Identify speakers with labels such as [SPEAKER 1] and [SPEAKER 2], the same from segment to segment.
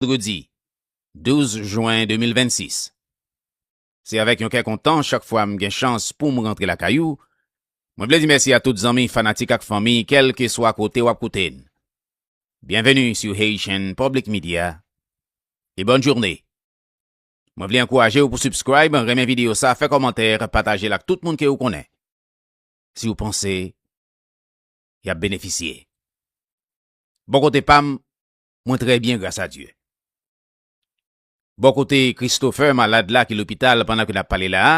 [SPEAKER 1] Vandredi 12 jwen 2026 Se avèk yon kè kontan chak fwa m gen chans pou m rantre lakay ou. Mwen vle di mèsi a tout zanmi, fanatik ak fanmi kèlkeswa kote w ap koute n. Byenveni sou Haitian Public Media e bòn journe! Mwen vle ankouraje w pou subscribe, renmen videyo sa, fè kòmantè, pataje l ak tout moun ke ou konnen, si ou panse y ap benefisye. Bò kote pa m, Mwen trè byen gras a Dye. Bò kote Christopher malad la ki lopital pandan ke n ap pale la a,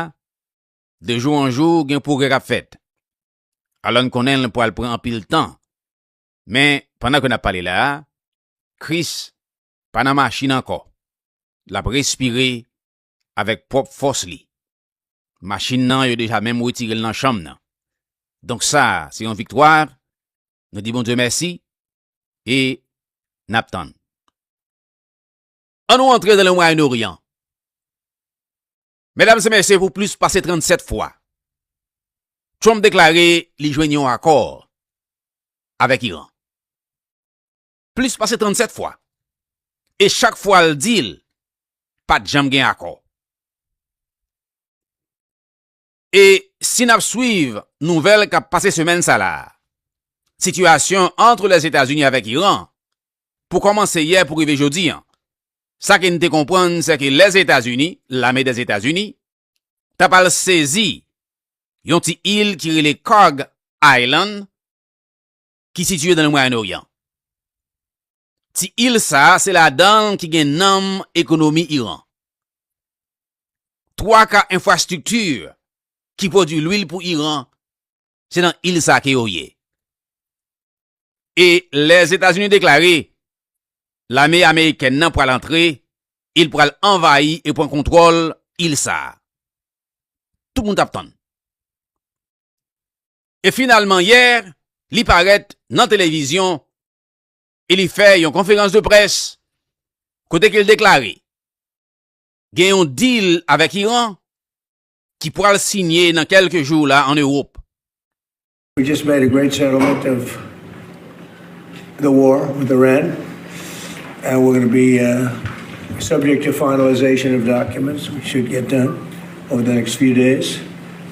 [SPEAKER 1] de jou an jou gen pwogrè k ap fèt. Alò n konnen l pral pran anpil tan, men pandan ke n ap pale la a, Chris pa nan machin ankò, l ap respire avèk pwòp fòs li. Machin nan yo deja menm retire l nan chanm nan. Donk sa a se yon viktwa Nou di Bondye mèsi e n ap tann. An nou antre nan le Mwayen Oryan. Medam e mesye pou plis pase 37 fwa, Trump deklare li jwenn yon akò avèk Iran. Plis pase 37 fwa. E chak fwa l di l pat janm gen akò. E si nap swiv nouvèl kap pase semèn sa la, sitiyasyon antre Lèzetazini avèk Iran pou kòmanse yè pou rive jodi an, sa ke n te konprann se ke Lèzetazini, lame Dèzetazini, tap al sezi yon ti il ki rele Kharg Island ki sitiye nan Mwayen Oryan. Ti il sa a se ladan l ki gen nanm ekonomi Iran. Twa ka enfrastrikti ki pwodui lwil pou Iran se nan il sa a ke yo ye. E Lèzetazini deklare lame amerikèn nan pral antre e l pral anvayi e pran kontwòl il sa a. Tout moun t ap tann. E finalman yè li parèt nan televizyon e li fè yon konferans de près kote ke l deklare gen yon dil avèk Iran ki pwal sinye nan kèlke jou la an Ewop. We
[SPEAKER 2] just made a great settlement of the war with Iran and we're gonna be subject to finalization of documents which should get done over the next few days.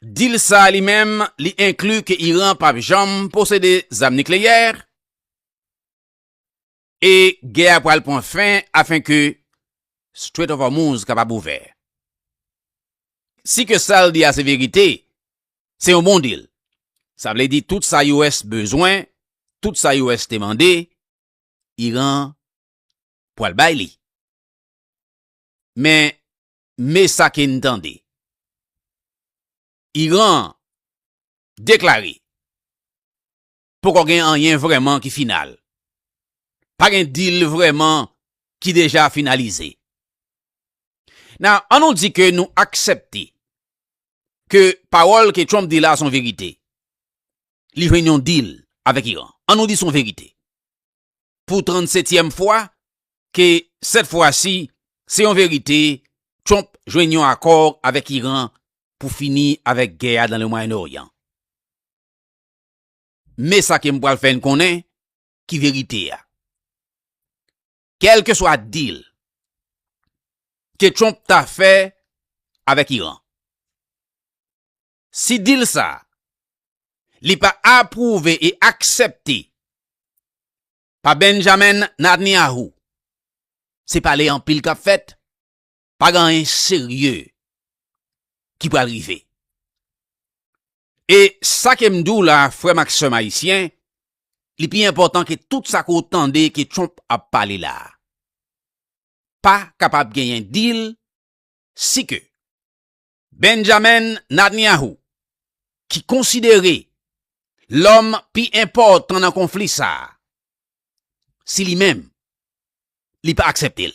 [SPEAKER 1] Deal sa a li menm, li enkli ke Iran pap janm posede zam nikleyè e gè a pral pran fen afen ke Strait of Hormuz kapab ouvè. Si ke sa l di a se verite, se yon bon deal. Sa vle di tout sa US bezwen, tout sa US te mande, Iran pral bay li. Men, Me sa ke n tande. Iran deklare poko gen anyen vrèman ki final. Pa gen deal vrèman ki deja finalize. Nan, an nou di ke nou aksepte ke pawòl ke Trump di la son verite. Li jwenn yon deal avèk Iran. An nou di son verite. pou 37 tièm fwa ke sèt fwa si se yon verite Trump jwenn yon akò avèk Iran pou fini avèk gè a nan le Mwayen Oryan. Men sa ke m pral fè n konnen ki verite a. Kèlkeswa deal ke Trump ta fè avèk Iran, si deal sa a li pa apwouve e aksepte pa Benjamin Natnyahu, se pale anpil k ap fèt, pa gen anyen serye ki pral rive. E sa ke m di w la frè m ak sè m ayisyen, li pi enpòtan ke tout sa ke w tande ke Trump ap pale la a. Pa kapab genyen deal si ke Benjamin Netanyahu, ki konsidere lòm pi enpòtan nan konfli sa a, si li menm li pa aksepte l,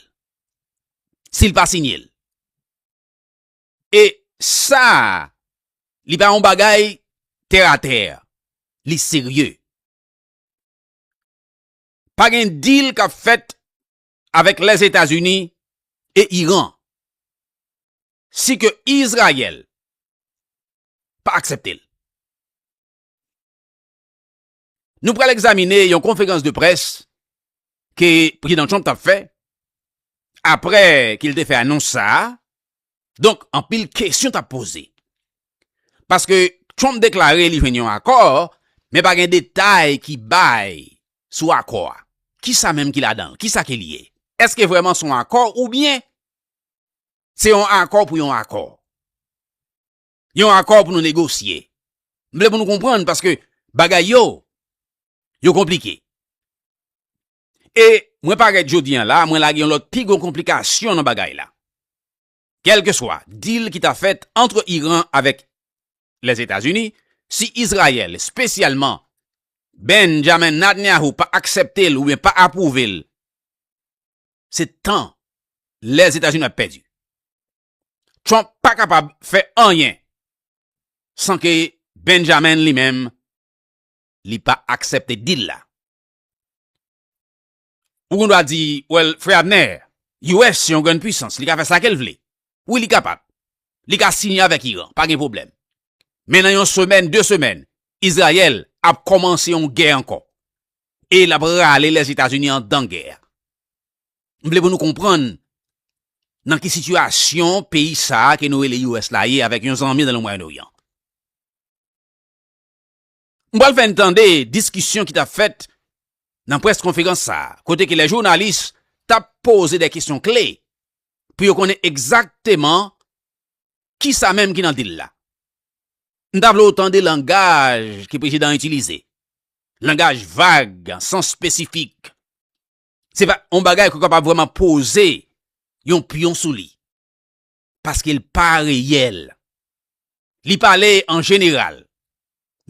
[SPEAKER 1] si l pa siyen l, e sa a li pa yon bagay tè a tè, li serye. Pa gen deal k ap fèt avèk Lèzetazini e Iran. si ke Izrayèl pa aksepte l. Nou pral egzamine yon konferans de près ke Prezidan Trump t ap fè apre ke l te fè anons sa a. Donk, anpil kesyon t ap poze. Paske Trump deklare li jwenn yon akò, men pa gen detay ki bay sou akò a. Kisa menm ki ladan l? Kisa ke l ye? Eske vrèman s on akò oubyen Se yon akò pou yon akò. Yon akò pou nou negosye. M vle pou nou konprann paske bagay yo, yo konplike. E mwen parèt jodi an la, mwen lage yon lòt pi gwo konplikasyon nan bagay la. Kèlke swa deal ki ta fèt antre Iran avèk Lèzetazini, si Izrayèl, espesyalman Benjamin Nadnyahu pa aksepte l oubyen pa apwouve l, se tan Lèzetazini ap pèdi. Trump pa kapab fè anyen san ke Benjamin li menm li pa aksèpte deal la. Ou gen dwa di, well Frè Abner, US se yon grenn pwisans, li ka fè sa ke l vle. Wi li kapab. Li ka siyen avèk Iran, pa gen pwoblèm. Men nan yon semèn, de semèn, Izrayèl ap kòmanse yon gè ankò. E lap rale Lèzetazini andan gè a. M vle pou nou konprann nan ki sitiyasyon peyi sa ke nou rele US la ye avèk yon zanmi nan le Mwayen Oryan. M pral fè n tande diskisyon ki tap fèt nan près konferans sa a, kote ke lè jounalis tap poze dè kesyon kle pou yo konnen egzakteman kisa menm ki nan dil la. M ta vle ou tande langaj ke prezidan an itilize. langaj vag, san spesifik. Se pa yon bagay ke w kapab vreman poze yon pyon sou li. Paske l pa reyèl. Li pale an jeneral,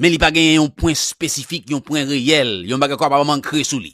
[SPEAKER 1] men li pa genyen yon pwen spesifik, yon pwen reyèl, yon bagay ke w kapab ankre sou li.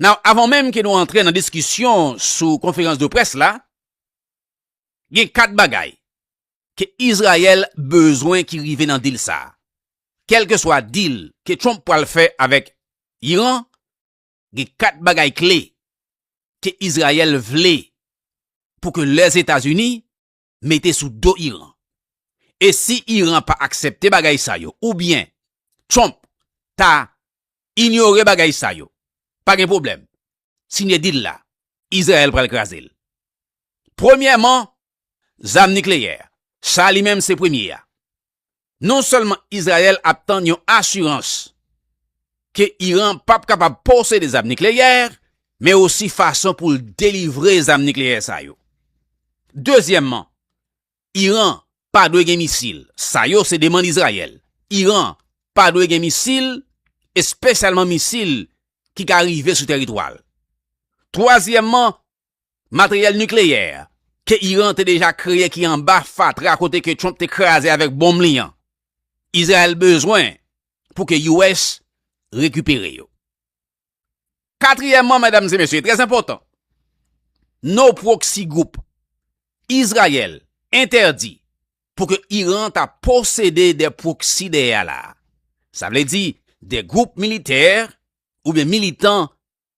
[SPEAKER 1] Nan avan menm ke nou antre nan diskisyon sou konferans de près la, gen 4 bagay ke Izrayèl bezwen ki rive nan dil sa. Kèlke swa dil ke Trump pwal fè avèk Iran, gen 4 bagay kle ke Izrayèl vle pou ke Lèzetazini mete sou do Iran. E si Iran pa aksepte bagay sa yo oubyen Trump ta inyore bagay sa yo, pa gen pwoblèm, sinye dil la, Izrayèl pral kraze l. Premyèman, zam nikleyè, sa li menm se premye a. non sèlman Izrayèl ap tann yon asirans ke Iran p ap kapab posede zam nikleyè, men osi fason pou l delivre zam nikleyè sa yo. Dezyèmman, Iran pa dwe gen misil. Sa yo se demand Izrayèl. Iran pa dwe gen misil, espesyalman misil ki ka rive sou teritwa l. Twazyèmman, Materyèl nikleyè ke Iran te deja kreye ki anba fatra kote ke Trump te kraze avèk bonm li an, Izrayèl bezwen pou ke US rekipere yo. Katriyèman, medam e mesye, e trè enpòtan, no proxy group, Izrayèl entèdi pou ke Iran ta posede de proxy dèyè la a. Sa vle di, de group militè oubyen militan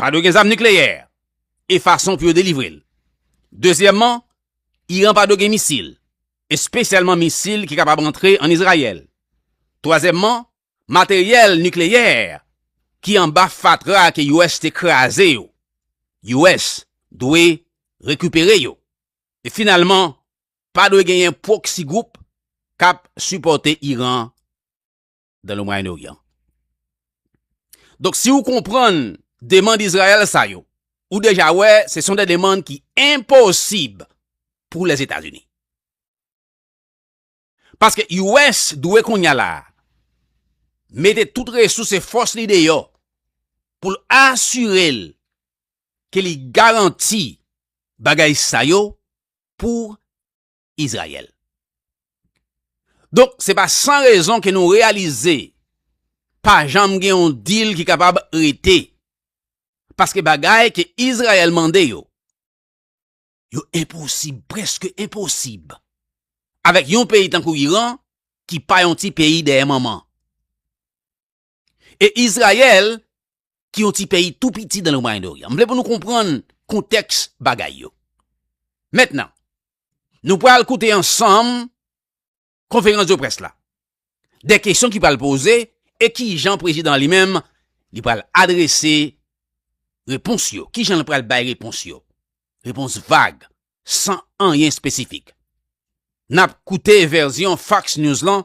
[SPEAKER 1] Pa dwe gen zam nikleyè e fason pou yo delivre l. Dezyèmman, Iran pa dwe gen misil, espesyalman misil ki kapab antre ann Izrayèl. Twazyèmman, materyèl nikleyè ki anba fatra ke US te kraze yo, US dwe rekipere yo. E finalman, pa dwe genyen proxy group kap sipòte Iran. dan le Mwayen Oryan. Donk si ou konprann demand Izrayèl sa yo, ou deja wè se son de demand ki enposib pou Lèzetazini. Paske US dwe kounya la a, mete tout resous e fòs li deyò pou l asire l ke li garanti bagay sa yo pou Izrayèl. Donk, se pa san rezon ke nou reyalize pa janm gen yon dil ki kapab rete. Paske bagay ke Izrayèl mande yo, yo enposib, preske enposib, avèk yon peyi tankou Iran ki pa yon ti peyi dèyè manman. E Izrayèl ki yon ti peyi tou piti dan le Mwayen Oryan. M vle pou nou konprann kontèks bagay yo. Mentnan, nou pral koute ansanm konferans de près la. De kesyon ki pral poze e ki jan prezidan li menm li pral adrese repons yo. Ki jan li pral bay repons yo. Repons vag, san anyen espesifik. N ap koute vèzyon Fox News lan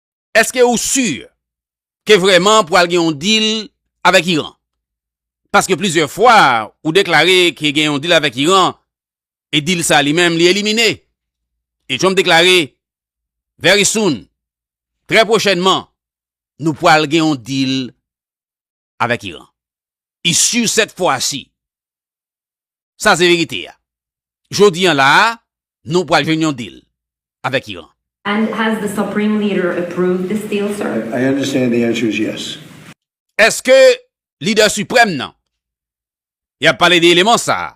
[SPEAKER 1] Eske ou sur ke vreman pwal gen yon deal avek Iran? Paske plizyè fwa ou deklare ke gen yon deal avek Iran e deal sa li menm li elimine. E Trump deklare Very soon, trè pwochènman, nou pwal gen yon deal avèk Iran. E si sèt fwa si, sa se verite ya. Jodi an la a, nou pral jwenn yon deal avèk Iran. And has the
[SPEAKER 3] supreme leader approved this deal, sir? I understand the
[SPEAKER 2] answer is yes. Eske
[SPEAKER 1] lidè siprèm nan, y ap pale de eleman sa a,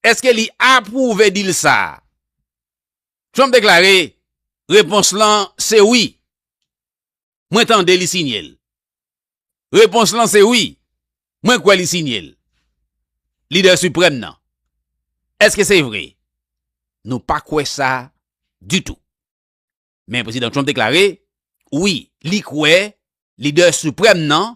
[SPEAKER 1] eske li apwouve deal sa a? Trump deklare, Repons lan se wi. Mwen tande li signe l. Repons lan se wi, mwen kwè li signe l. Lidè siprèm nan. Eske se vre? Nou pa kwè sa ditou. Men Prezidan Trump deklare, wi, li kwè lidè siprèm nan,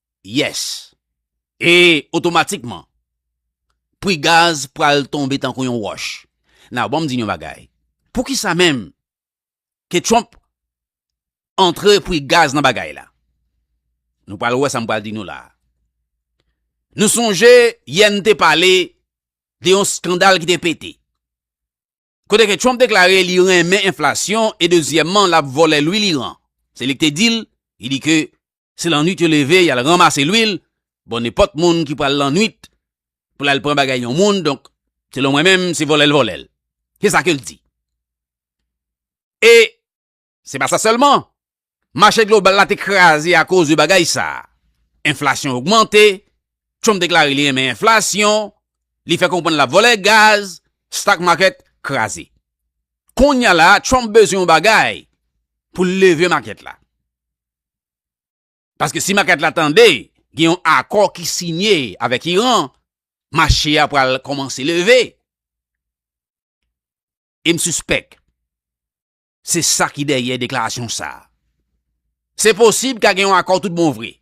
[SPEAKER 1] Yes. E otomatikman, pri gaz pral tonbe tankou yon wòch. Now banm di nou yon bagay. Poukisa menm ke Trump antre pri gaz nan bagay la? Nou pral wè sa m pral di nou la a. Nou sonje yè n te pale de yon skandal ki te pete. Kote ke Trump deklare li renmen enflasyon e dezyèmman lap vòlè lwil Iran. Se li ki te dil, li di ke se lannwit yo leve yal ranmase lwil, bon nenpòt moun ki pral lannwit pou lal pran bagay yon moun donk selon mwen menm se vòlèl vòlèl. Se sa kel di. E. Se pa sa sèlman, mache global la te kraze akoz de bagay sa. Enflasyon ogmante, Trump deklare li renmen enflasyon, li fè konprann lap vòlè gaz, stock market kraze. Konnya la Trump bezwen yon bagay pou l leve market la. Paske si market la tande gen yon akò ki sinye avèk Iran, mache a pral kòmanse leve. E m sispèk Se sa ki dèyè deklarasyon sa a. Se posib ka gen yon akò tout bon vre.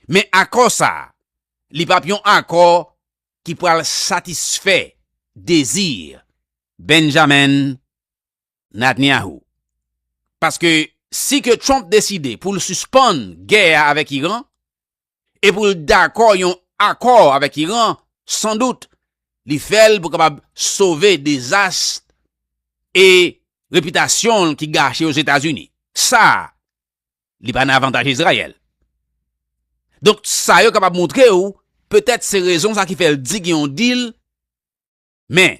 [SPEAKER 1] Men akò sa a, li p ap yon akò ki pral satisfè dezi Benjamin Natniahou. Paske si ke Trump deside pou l sispann gè a avèk Iran, e pou l dakò yon akò avèk Iran, san dout, li fè l pou kapab sove dezas e repitasyon l ki gache Ozetazini. Sa, li pa nan avantaj Izrayèl. Donk, sa yo kapab montre ou, petèt se rezon sa ki fè l di gen yon dil, men,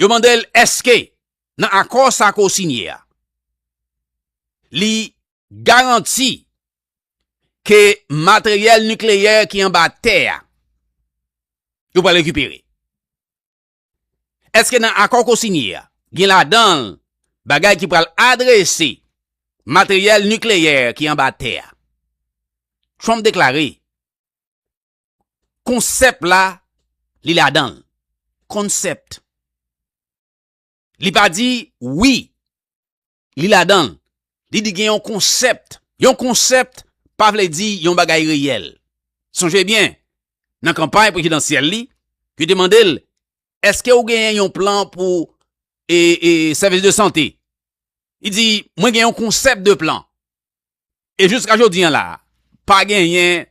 [SPEAKER 1] Yo mande l èske nan akò sa ke w sinye a, li garanti ke materyèl nikleyè ki anba tè a, yo pral rekipere. Èske nan akò ke w sinye a, gen ladan l bagay ki pral adrese materyèl nikleyè ki anba tè a? Trump deklare. Konsèp la, li ladan l. Concept. Li pa di wi. Li ladan l. Li di gen yon konsèpt. Yon konsèpt pa vle di yon bagay reyèl. Sonje byen, nan kanpay prezidansyèl li, yo te mande l, eske ou genyen yon plan pou e, e, sèvis de sante? Li di, mwen gen yon konsèpt de plan. E jiska jodi an la, pa genyen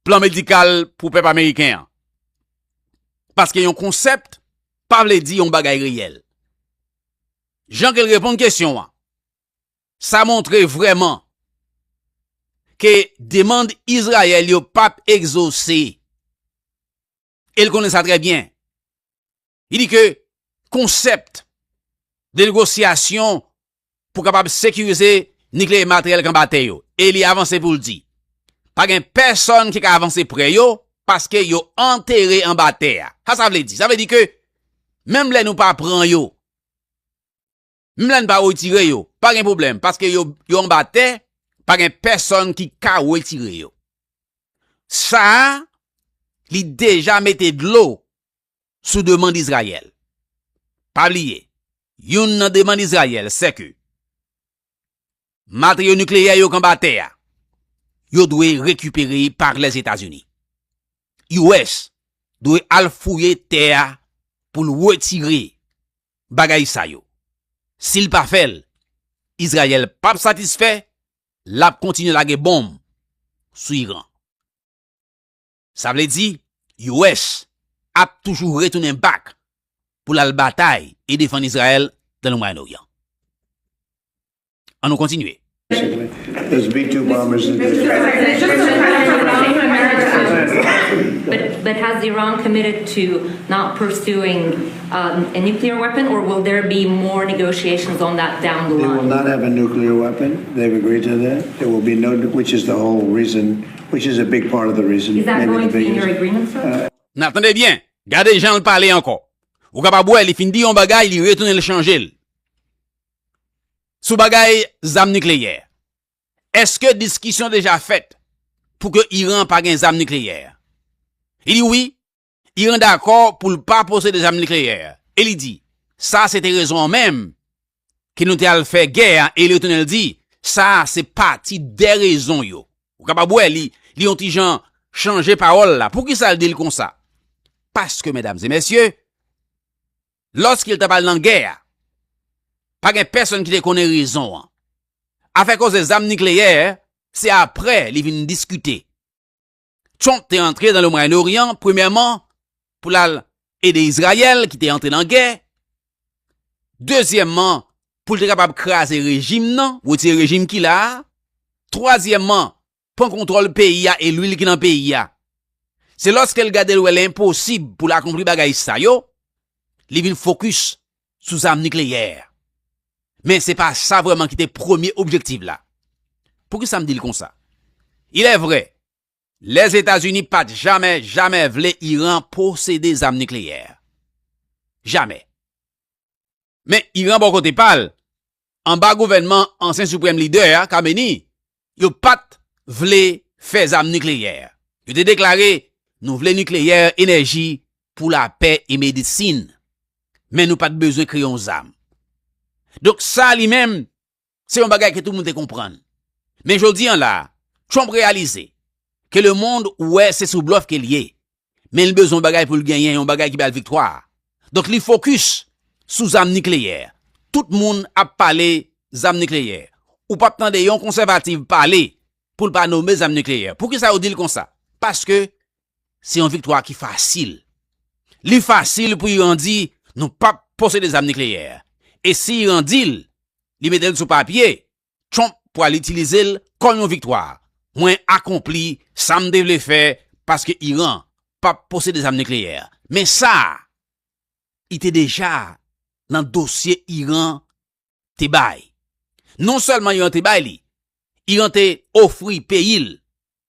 [SPEAKER 1] plan medikal pou pèp ameriken an. Paske yon konsept pa vle di yon bagay reyèl. Jan ke l reponn kesyon an, sa montre vreman ke demand Izrayèl yo pap egzose. El konnen sa trè byen. Li di ke konsept de negosyasyon pou kapab sekirize nikleye materyèl kan batè yo. E li avanse pou l di. Pa gen pèsòn ki ka avanse pre yo paske yo antere an batè a. Sa sa vle di? Sa vle di ke menm lè nou pa pran yo. Menm lè n pa retire yo, pa gen pwoblèm paske yo anba tè, pa gen pèsonn ki ka retire yo. Sa a, li deja mete dlo sou demand Izrayèl. Pa bliye, youn nan demand Izrayèl sèke Materyo nikleyè yo k anba tè a, yo dwe rekipere pa Lèzetazini. US dwe al fouye tè a pou l wetire bagay sa yo. Si l pa fè l, Izrayèl p ap satisfè, l ap kontinye lage bonm sou Iran. Sa vle di US ap toujou retounen back pou l al batay e defann Izrayèl nan le Mwayen Oryan. An nou
[SPEAKER 2] kontinye. Which is a big part of the reason. Is that going to
[SPEAKER 3] be in
[SPEAKER 2] your
[SPEAKER 3] agreement
[SPEAKER 2] sir? Nan
[SPEAKER 3] tande byen,
[SPEAKER 1] gade jan l pale ankò. Ou kapab wè li fin di yon bagay li retounen l chanje l. Sou bagay zam nikleyè. Eske diskisyon deja fèt pou ke Iran pa gen zam nikleyè? Li di wi. Iran dakò pou l pa posede zam nikleyè e li di sa se te rezon an menm ki nou te al fè gè a e li retounen l di sa se pati de rezon yo. Ou kapab wè li li yon ti jan chanje pawòl la. Poukisa l di l konsa? Paske medam e mesye, lòske l t ap al nan gè a, pa gen pèsonn ki te konnen rezon an. Afè koze zam nikleyè se aprè li vin diskite. Trump te antre nan le Mwayen Oryan premyèman pou l al ede Izrayèl ki te antre nan gè, dezyèmman pou l te kapab kraze rejim nan, wotire rejim ki la a, twazyèmman pran kontwòl peyi a e lwil ki nan peyi a. Se lòske l gade l wè l enposib pou l akonpli bagay sa yo, li vin fokis sou zam nikleyè. Men se pa sa vrèman ki te premye objektiv la. Poukisa m di l konsa? Ilèvre, Lèzetazini pa t jamè jamè vle Iran posede zam nikleyè. Jamè. Men Iran bò kote pa l, anba gouvènman ansyen siprèm lidè a, Khameni, yo pa t vle fè zam nikleyè. Yo te deklare, Nou vle nikleyè, enèji pou lapè e medisin, men nou pa t bezwen kreye yon zam. Donk sa li menm, se yon bagay ke tout moun te konprann. Men jodi an la, Trump reyalize ke lemond wè se sou blòf ke l ye, men li bezwen yon bagay pou l genyen, yon bagay ki bay l viktwa. Donk li fokis sou zam nikleyè. Tout moun ap pale zam nikleyè. Ou pap tande yon konsèvativ pale pou l pa nome zam nikleyè. Poukisa yo di l konsa? Paske se yon viktwa ki fasil. Li fasil pou Iran di nou pap posede zam nikleyè. E si Iran di l, li mete l sou papye, Trump pwal itilize l kòm yon viktwa. Mwen akonpli sa m te vle fè paske Iran pap posede zam nikleyè. Men sa I te deja nan dosye Iran te bay. Non sèlman Iran te bay li, Iran te ofri peyi l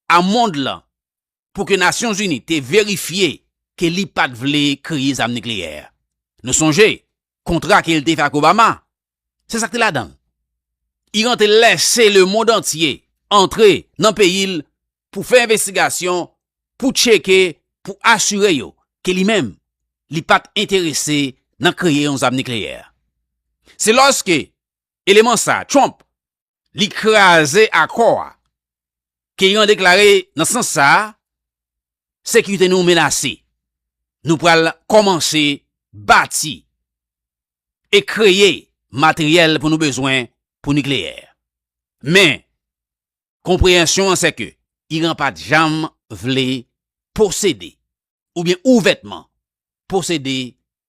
[SPEAKER 1] a mond lan pou ke Nasyon Zini te verifye ke li pat vle kreye zam nikleyè. Nou sonje kontra ke li te fè ak Obama, se sa ki te ladan l. Iran te lèse le mond antye antre nan peyi l pou fè envestigasyon, pou tcheke, pou asire yo ke li menm li pat enterese nan kreye yon zam nikleyè. Se lòske eleman sa, Trump, li kraze akò a. Ke Iran deklare nan sans sa a, sekirite nou menase. Nou pral kòmanse bati e kreye materyèl pou nou bezwen pou nikleyè. Men, konpreyansyon an sèke Iran pa t janm vle posede oubyen ouvètman posede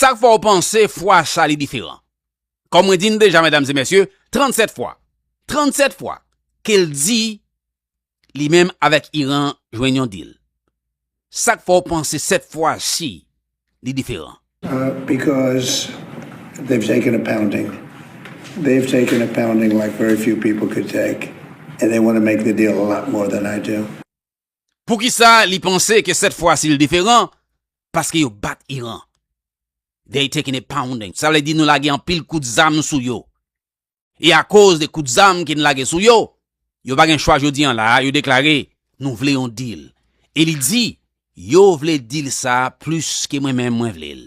[SPEAKER 1] Sak fè w panse fwa sa li diferan? Kòm mwen di n deja medam e mesye, 37 fwa, 37 fwa ke l di li menm avèk Iran jwenn yon dil. Sak fè w panse sèt fwa si li diferan?
[SPEAKER 2] Because they've taken a pounding, they've taken a pounding like very few people could take and they want to make the deal a lot more than I do. Poukisa
[SPEAKER 1] li panse ke sèt fwa si l diferan? Paske yo bat Iran. They taking a pounding. Sa vle di nou lage anpil kout zam sou yo. E akoz de kout zam ke n lage sou yo, yo pa gen chwa jodi an la a, yo deklare, nou vle yon deal. E li di, yo vle deal sa a plis ke mwen menm mwen vle l.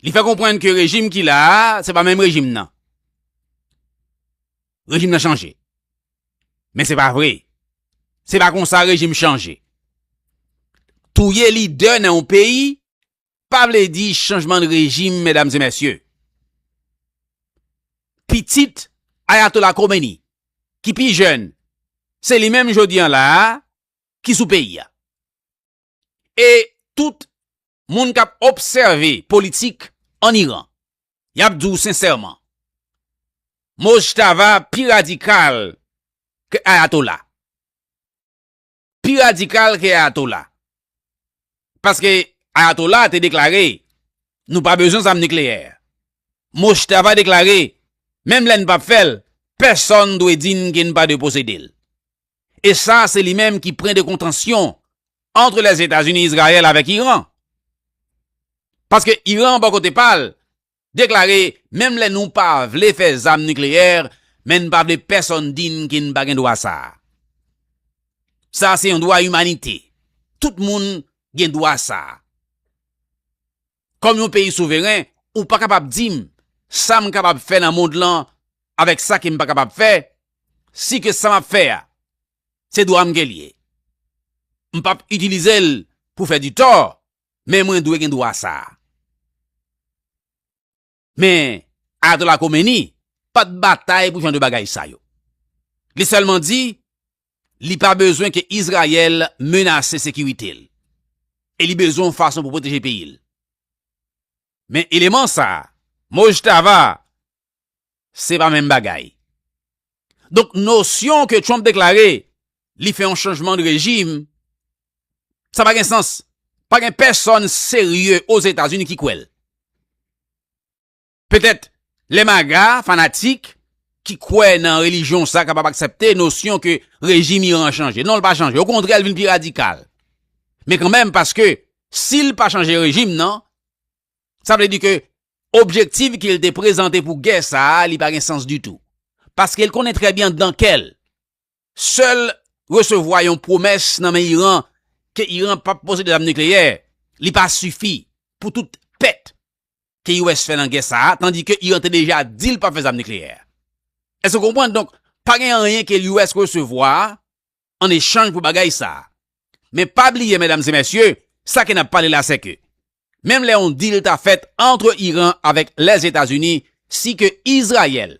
[SPEAKER 1] Li fè konprann ke rejim ki la a, se pa menm rejim nan. Rejim nan chanje. Men se pa vre. Se pa konsa rejim chanje. Touye lidè nan yon peyi, pa vle di chanjman de rejim, medam se mesye. Pitit Ayatola Komeni, ki pi jèn, se li menm jodi an la a, ki sou peyi a. e tout moun kap obsève politik an Iran yap di w sensèman Mojtaba pi radikal ke Ayatollah. Pi radikal ke Ayatollah. Paske Ayatollah te deklare nou pa bezwen zam nikleyè. Mojtaba deklare menm lè n pap fè l pèsòn dwe di n ke n pa dwe posede l. e sa se li menm ki pren de kontansyon antre Lèzetazini, Izrayèl avèk Iran. Paske Iran bò kote pa l, deklare menm lè nou pa vle fè zam nikleyè, men n pa vle pèsòn di n ke n pa gen dwa sa a. Sa a se yon dwa imanite. Tout moun gen dwa sa a. kòm yon peyi souveren, ou pa kapab di m sa m kapab fè nan mond lan avèk sa ke m pa kapab fè, si ke sa m ap fè a, se dwa m ke l ye. M p ap itilize l pou fè di tò, men mwen dwe gen dwa sa a. Men, Ayatollah Khomeini pa t batay pou jan de bagay sa yo. Li sèlman di, li pa bezwen ke Izrayèl menase sekirite l, e li bezwen yon fason pou pwoteje peyi l. Men eleman sa, Mojtava, se pa menm bagay. Donk nosyon ke Trump deklare li fè yon chanjman de rejim, sa pa gen sans. Pa gen pèsòn serye o Zetazini ki kwè l. Petèt lè maga, fanatik, ki kwè nan relijyon sa kapab aksepte nosyon ke rejim Iran an chanje. Non l pa chanje. Okontrè l vin pi radikal. Men kanmenm paske si l pa chanje rejim nan, Sa vle di ke objektif ke l te prezante pou gè sa a, li pa gen sans ditou. Paske l konnen trè byen dan kè l, sè l resevwa yon pwomès nan men Iran ke Iran pap posede zam nikleyè, li pa sifi pou tout pèt ke US fè nan gè sa a, tandi ke Iran te deja di l pap fè zam nikleyè. Èske w konprann? Donk, pa gen anyen ke US resevwa an echanj pou bagay sa. Men pa bliye medam e mesye, sa ke nap pale la se ke menm lè yon deal ta fèt antre Iran avek Lèzetazini si ke Izrayèl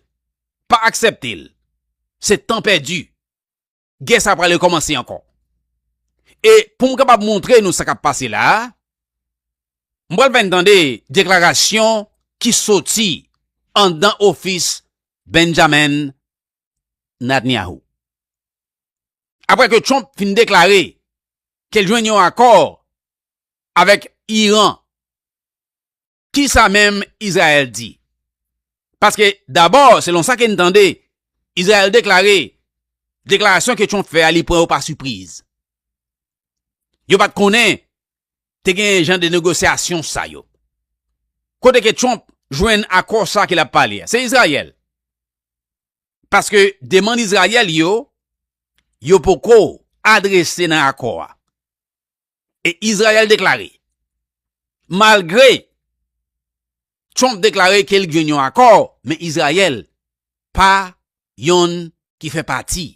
[SPEAKER 1] pa akseptel se tan pèdi. Gè sa pral rekomanse anko. E poum kapab montre nou sa kap pase la, m pral fè n tande deklarasyon ki soti andan ofis Benjamin Netanyahu. Apre ke Trump fin deklare ke l jwenn yon akò avèk Iran, ki sa menm Izrayèl di? Paske dabò, selon sa ke n tande, Izrayèl deklare deklarasyon ke Trump fè a li pran yo pa sipriz. Yo pat konnen te gen jan de negosyasyon sa yo. Kote ke Trump jwenn akò sa ke l ap pale a? Se Izrayèl. Paske demann Izrayèl yo, yo poko adrese nan akò a. E Izrayèl deklare, malgre Trump deklare ke li jwenn yon akò, men Izrayèl pa yon ki fè pati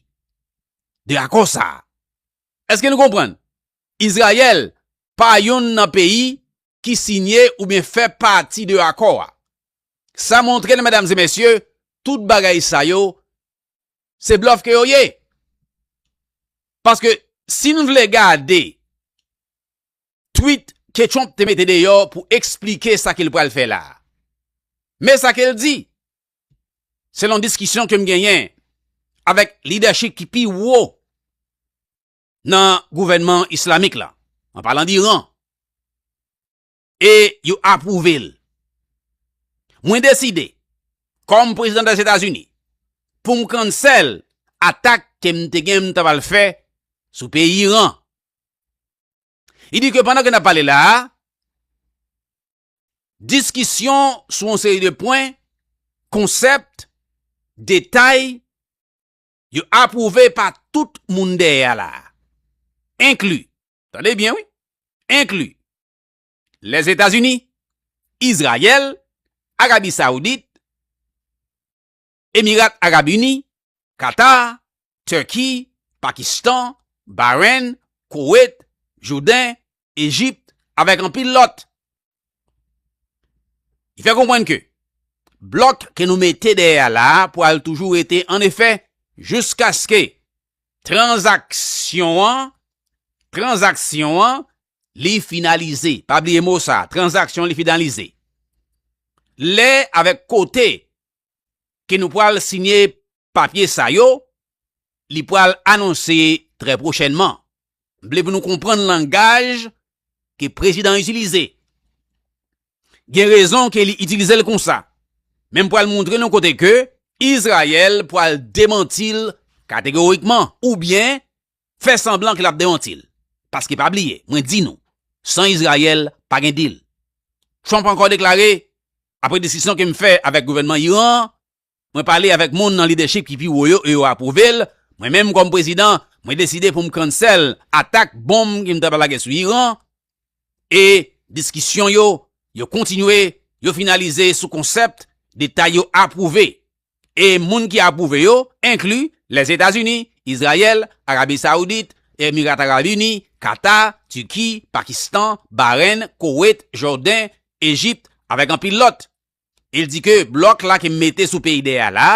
[SPEAKER 1] de akò sa a. Èske nou konprann? Izrayèl pa youn nan peyi ki sinye oubyen fè pati de akò a. Sa montre n, medam e mesye, tout bagay sa yo, se blòf ke yo ye. Paske, si n vle gade twit ke Trump te mete deyò pou eksplike sa ke l pral fè la a. Men sa ke l di, selon diskisyon ke m genyen avèk lidèchip ki pi wo nan gouvènman islamik la, an palan d'Iran, e yo apwouve l. Mwen deside, kòm prezidan Dèzetazini, pou m cancel atak ke m te gen m ta pral fè sou peyi Iran. Li di ke pandan ke n ap pale la a, diskisyon sou yon seri de pwen, konsèpt, detay, yo apwouve pa tout moun dèyè a la a. Enkli, tande byen wi, enkli, Lèzetazini, Izrayèl, Arabi Saoudit, Emirat Arab Ini, Qatar, Turkey, Pakistan, Bahrain, Koweit, Jourdain, Egypt avèk anpil lòt. Li fè konprann ke blòk ke nou mete dèyè a la a pwal toujou rete an efè jouskaske tranzaksyon an, tranzaksyon an, li finalize. Pa bliye mo sa a, tranzaksyon li finalize. Lè avèk kote ke nou pwal sinye papye sa yo, li pwal anonse trè pwochènman. M vle pou nou konprann langaj ke prezidan itilize. Gen rezon ke li itilize l konsa. Men m pwal montre nou kote ke Izrayèl pwal demanti l kategorikman oubyen fè sanblan ke l ap demanti l. Paske pa bliye, mwen di nou, san Izrayèl, pa gen dil. Trump ankò deklare, Apre diskisyon ke m fè avèk gouvènman Iran an, mwen pale avèk moun nan lidèchip ki pi wo yo e yo apwouve l, mwen menm kòm prezidan, mwen deside pou m cancel atak bonm ke m ta pral lage sou Iran, e diskisyon yo yo kontinye yo finalize sou konsept detay yo apwouve e moun ki apwouve yo enkli Lèzetazini, Izrayèl, Arabi Saoudit, Emirat Arab Ini, Kata, Tiki, Pakistan, Barenn, Kowet, Jòden, Ejipt avèk anpil lòt. Il di ke blòk la ke m mete sou Payday a la,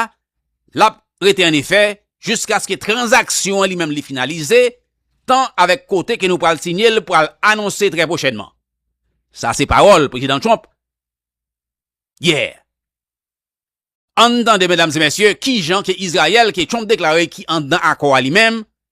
[SPEAKER 1] l ap rete an efè jiskaske tranzaksyon an li menm li finalize, tan avèk kote ke nou pral sinye l pral anonse trè pwochènman. Sa se pawòl Prezidan Trump yè. Ann tande medam e mesye kijan ke Izrayèl ke Trump deklare ki anndan akò a li menm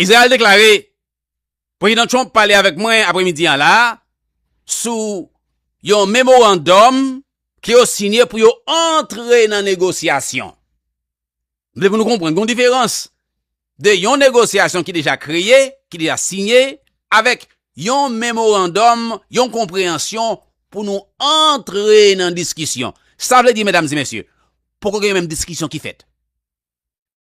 [SPEAKER 1] Izrayèl deklare, Prezidan Trump pale avèk mwen apremidi an la a sou yon memorandòm ke yo siyen pou yo antre nan negosyasyon. M vle pou nou konprann gen yon diferans de yon negosyasyon ki deja kreye, ki deja siye avèk yon memorandòm, yon konpreyansyon pou nou antre nan diskisyon. Sa vle di, medam e mesye, poko gen yon menm diskisyon ki fèt.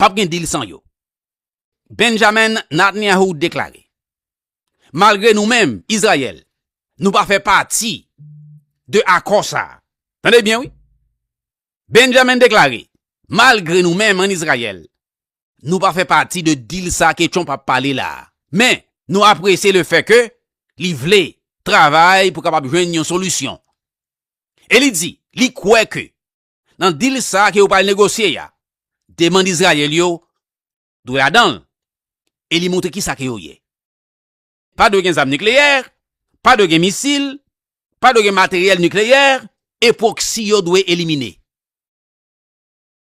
[SPEAKER 1] Pap gen dil san yo. Benjamin Natnyahu deklare, Malgre nou menm, Izrayèl, nou pa fè pati de akò sa a. Tande byen wi. Benjamin deklare, Malgre nou menm an Izrayèl, nou pa fè pati de dil sa ke Trump ap pale la a. Men, nou apresye le fè ke li vle travay pou kapab jwenn yon solisyon. E li di, li kwè ke nan dil sa ke yo pral negosye ya, demand Izrayèl yo dwe ladanl e li montre kisa ke yo ye. Pa dwe gen zam nikleyè, pa dwe gen misil, pa dwe gen materyèl nikleyè e proxy yo dwe elimine.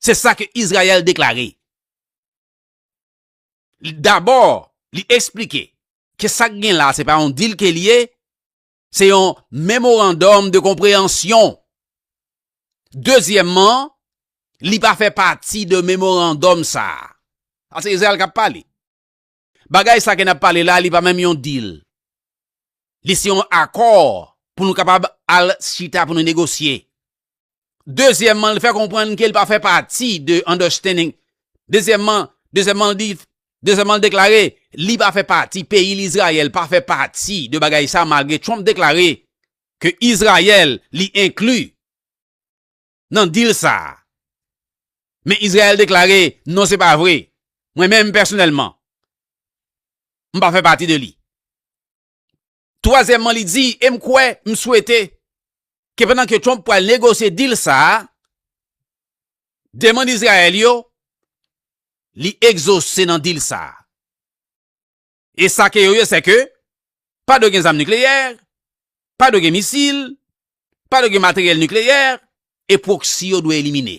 [SPEAKER 1] Se sa ke Izrayèl deklare. Dabò, li esplike ke sak gen la se pa yon dil ke li ye, Se yon memorandòm de konpreyansyon. Dezyèmman, li pa fè pati de memorandòm sa. A se Izrayèl kap pale. Bagay sa ke nap pale la, li pa menm yon deal. Li se yon akò pou nou kapab al chita pou nou negosye. Dezyèmman, li fè konprann ke li pa fè pati de understanding. Dezyèmman, dezyèmman li di, dezyèmman li deklare, li pa fè pati, peyi lizrayèl pa fè pati de bagay sa malgre Trump deklare ke Izrayèl li enkli nan deal sa. Men Izrayèl deklare, non se pa vre. Mwen menm pèsonèlman, m pa fè pati de li. Twazyèmman li di, e m kwè, m swete, ke pandan ke Trump pral negosye deal sa a, demand Izrayèl yo, li egzose nan deal sa a. E sa ke yo ye se ke, pa dwe gen zam nikleyè, pa dwe gen misil, pa dwe gen materyèl nikleyè, e proxy yo dwe elimine.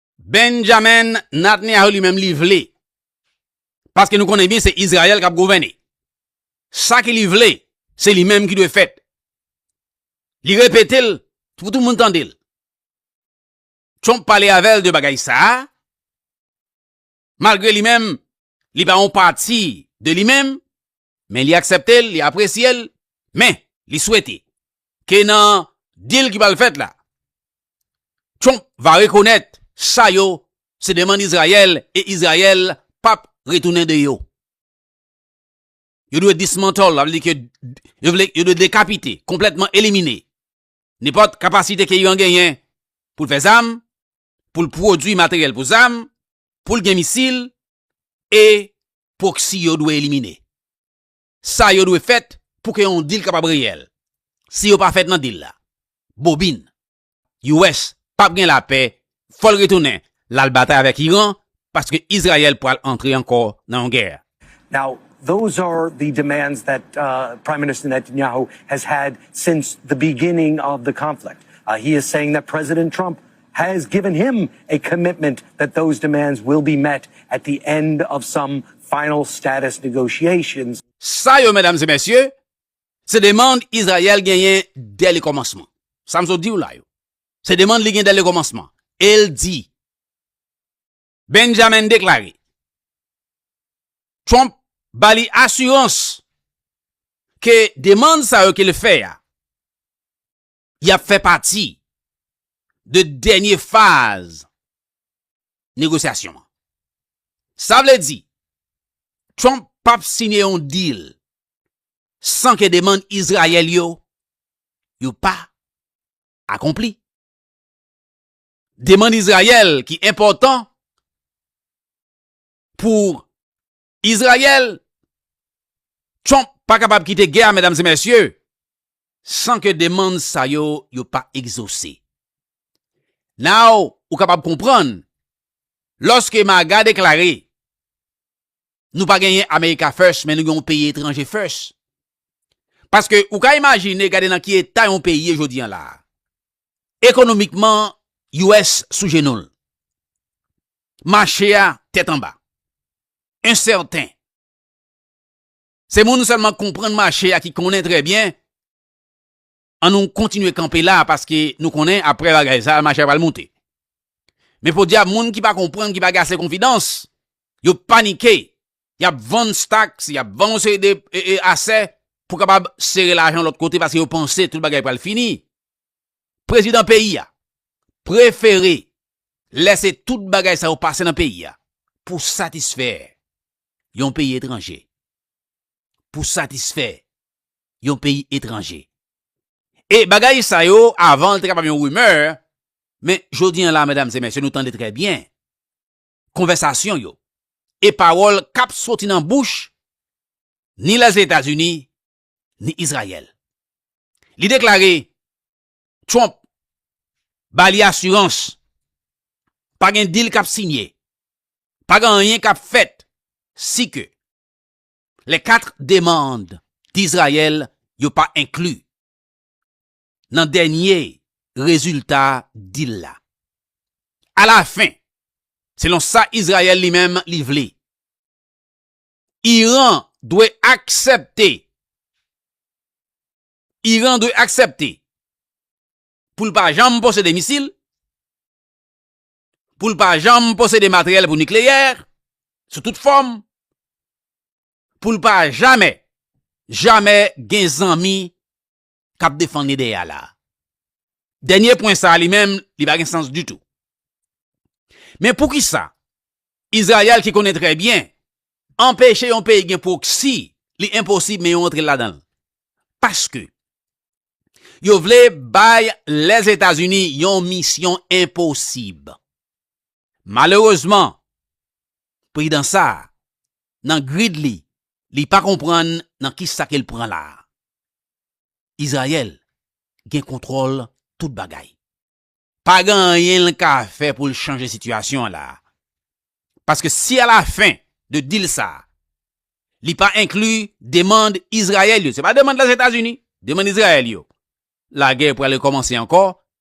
[SPEAKER 1] Benjamin Natneyahu li menm li vle. Paske nou konnen byen se Izrayèl kap gouvène. Sa ki li vle, se li menm ki dwe fèt. Li repete l pou tout moun tande l. Trump pale avè l de bagay sa a. malgre li menm li pa yon pati de li menm, men li aksepte l, li apresye l, men li swete ke nan deal ki pral fèt la, Trump va rekonèt sa yo se demann Izrayèl e Izrayèl pap retounen de yo. Yo dwe dismantle, avle di ke yo vle yo dwe dekapite, konplètman elimine nenpòt kapasite ke Iran genyen pou l fè zam, pou l pwodui materyèl pou zam, pou l gen misil, e pwoksi yo dwe elimine. Sa yo dwe fèt pou ke yon dil kapab reyèl. Si yo pa fèt nan dil la, bobin. US pap gen lapè, fò l retounen, l al batay avèk Iran paske Izrayèl pral antre ankò nan yon gè. Now,
[SPEAKER 4] those are the demands that Prime Minister Netanyahu has had since the beginning of the conflict. He is saying that President Trump has given him a commitment that those demands will be met at the end of some final status negotiations. Sa yo, medam
[SPEAKER 1] e mesye, se demand Izrayèl genyen dè le kòmansman. Sa m sot di w la yo, se demand li gen dè le kòmansman. E l di, Benjamin deklare Trump ba li asirans ke demand sa yo ke l fè a y ap fè pati de dènye faz negosyasyon an. Sa vle di Trump p ap siyen yon deal san ke demand Izrayèl yo yo pa akonpli. Demann Izrayèl ki enpòtan pou Izrayèl, Trump pa kapab kite gè a medam e mesye san ke demann sa yo yo pa egzose. Now ou kapab konprann lòske MAGA deklare nou pa genyen America first men nou gen yon peyi etranje first. Paske ou ka imajine gade nan ki eta yon peyi ye jodi an la a. Ekonomikman US sou jenou l. Mache a tèt anba. Ensèten. Se moun sèlman k konprann mache a ki konnen trè byen. An nou kontinye kanpe la paske nou konnen aprè bagay sa mache a pral moute. Men podyab moun ki pa konprann ki pa gen ase konfidans, yo panike, y ap vann staks, y ap vann yon seri de asè pou kapab sere lajan lòt kote paske yo panse tout bagay pral fini. Prezidan peyi a prefere lèse tout bagay sa yo pase nan peyi a pou satisfè yon peyi etranje. Pou satisfè yon peyi etranje. E bagay sa yo avan l te kapab yon rimè, men jodi an la medam e mesye nou tande trè byen konvèsasyon yo e pawòl k ap soti nan bouch ni Lèzetazini ni Izrayèl. Li deklare Trump ba li asirans pa gen dil k ap sinye, pa gen anyen k ap fèt si ke lè kat demand Dizrayèl yo pa enkli nan dènye rezilta dil la. Alafen, selon sa Izrayèl li menm li vle, Iran dwe aksepte Iran dwe aksepte pou l pa janm posede misil, pou l pa janm posede materyèl pou nikleyè, sou tout fòm, pou l pa jamè, jamè gen zanmi k ap defann ide a la a. Dènye pwen sa a li menm, li pa gen sans ditou. Men poukisa Izrayèl ki konnen trè byen anpeche yon peyi gen pwoksi li enposib men yo antre ladan l? Paske yo vle bay Lèzetazini yon misyon enposib. Malerezman, prezidan sa a, nan grid li, li pa konprann nan kisa ke l pran la a. Izrayèl gen kontwòl tout bagay. Pa gen anyen l ka fè pou l chanje sitiyasyon an la a. Paske si alafen de dil sa a, li pa enkli demand Izrayèl yo, se pa demand Lèzetazini, demand Izrayèl yo, lagè pral rekòmanse ankò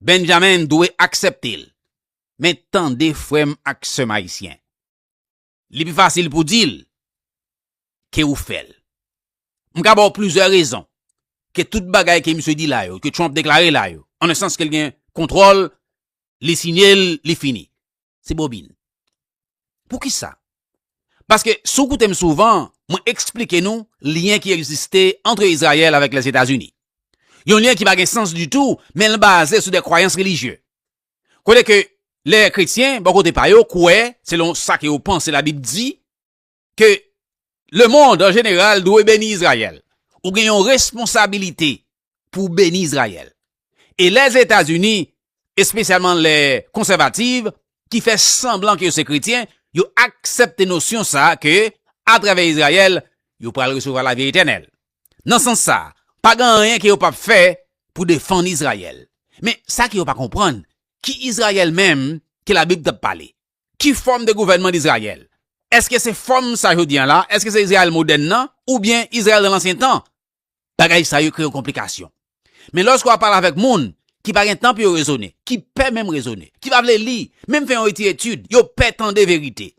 [SPEAKER 1] Benjamin dwe aksepte l. Men tande frè m ak sè m ayisyen, li pi fasil pou di l ke ou fè l. M ka ba w plizyè rezon ke tout bagay ke misye di la yo, ke Trump deklare la yo, an e sans ke l gen kontwòl, li siyen l, li fini. se bobin. Poukisa? Paske sou koute m souvan, mwen eksplike nou lyen ki egziste antre Izrayèl avèk Lèzetazini. Yon lyen ki pa gen sans ditou, men l baze sou de kwayans relijye. Kote ke lè kretyen, bò kote pa yo, kwè, selon sa ke yo panse labib di, ke le mond an jeneral dwe beni Izrayèl. Ou gen yon responsabilite pou w beni Izrayèl. E Lèzetazini, espesyalman lè konsèvativ, ki fè sanblan ke yo se kretyen, yo aksepte nosyon sa a ke atravè Izrayèl, yo pral resevwa lavi etènèl. Nan sans sa a, pa gen anyen ke yo p ap fè pou defann Izrayèl. Men, sa ke yo pa konprann, ki Izrayèl menm ke Labib t ap pale? Ki fòm de gouvènman Dizrayèl? Èske se fòm sa jodi an la? Èske se Izrayèl modèn nan? Oubyen Izrayèl nan lansyen tan? Bagay sa yo kreye yon konplikasyon. Men lòske w ap pale avèk moun ki pa gen tan pou yo rezone, ki pè menm rezone, ki pa vle li, menm fè yon ti etid, yo pè tande verite.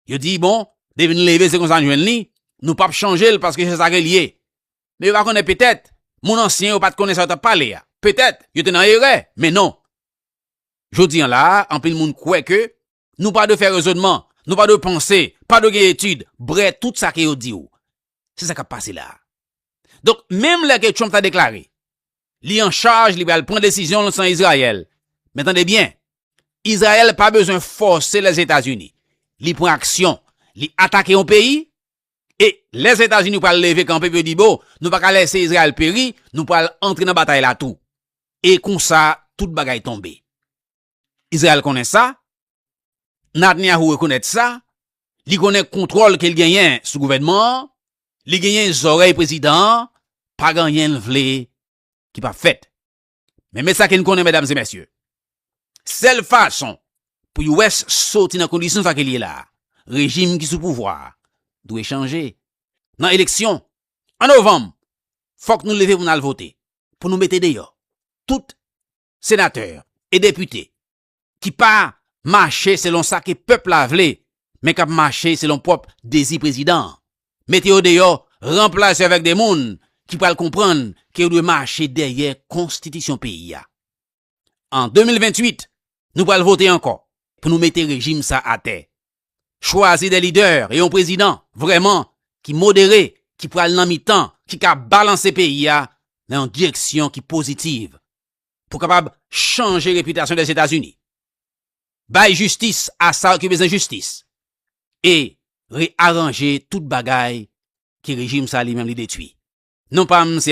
[SPEAKER 1] Yo di, bon, depi n leve se konsa n jwenn li, nou p ap chanje l paske se sa ke l ye. Men yo pa konnen petèt moun ansyen yo pa t konnen sa yo t ap pale a. Petèt yo te nan erè, men non. Jodi an la a, anpil moun kwè ke nou pa dwe fè rezonman, nou pa dwe panse, pa dwe gen etid, brè tout sa ke yo di ou. Se sa k ap pase la a. Donk, menm lè ke Trump ta deklare li an chaj, li pral pran desizyon l san Izrayèl, men tande byen, Izrayèl pa bezwen fòse Lèzetazini. Li pran aksyon, li atake yon peyi, E Lèzetazini pral leve kanpe pou yo di bon, nou pa ka lèse Izrayèl peri, nou pral antre nan batay la tou. E konsa, tout bagay tonbe. Izrayèl konnen sa, Natnyahu rekonèt sa, li konnen kontwòl ke l genyen sou gouvènman an, li genyen zòrèy prezidan an, pa gen anyen l vle ki p ap fèt. Men men sa ke n konnen medam e mesye, sèl fason pou US soti nan kondisyon sa ke li ye la, rejim ki sou pouvwa a dwe chanje. Nan eleksyon an novanm, fòk nou leve pou n al vote, pou nou mete deyò tout senatè e depite ki pa mache selon sa ke pèp la vle, men kap mache selon pwòp dezi prezidan an. Mete yo deyò, ranplase yo avèk de moun ki pral konprann ke yo dwe mache dèyè konstitisyon peyi a. An 2028, nou pral vote ankò pou nou mete rejim sa atè. Chwazi de lidè e yon prezidan vrèman ki modere ki pral nan mitan ki ka balanse peyi a nan yon direksyon ki pozitiv. pou kapab chanje repitasyon Lèzetazini, bay jistis a sa yo ki bezwen jistis e rearanje tout bagay ke rejim sa li menm li detwi. Non pa m se.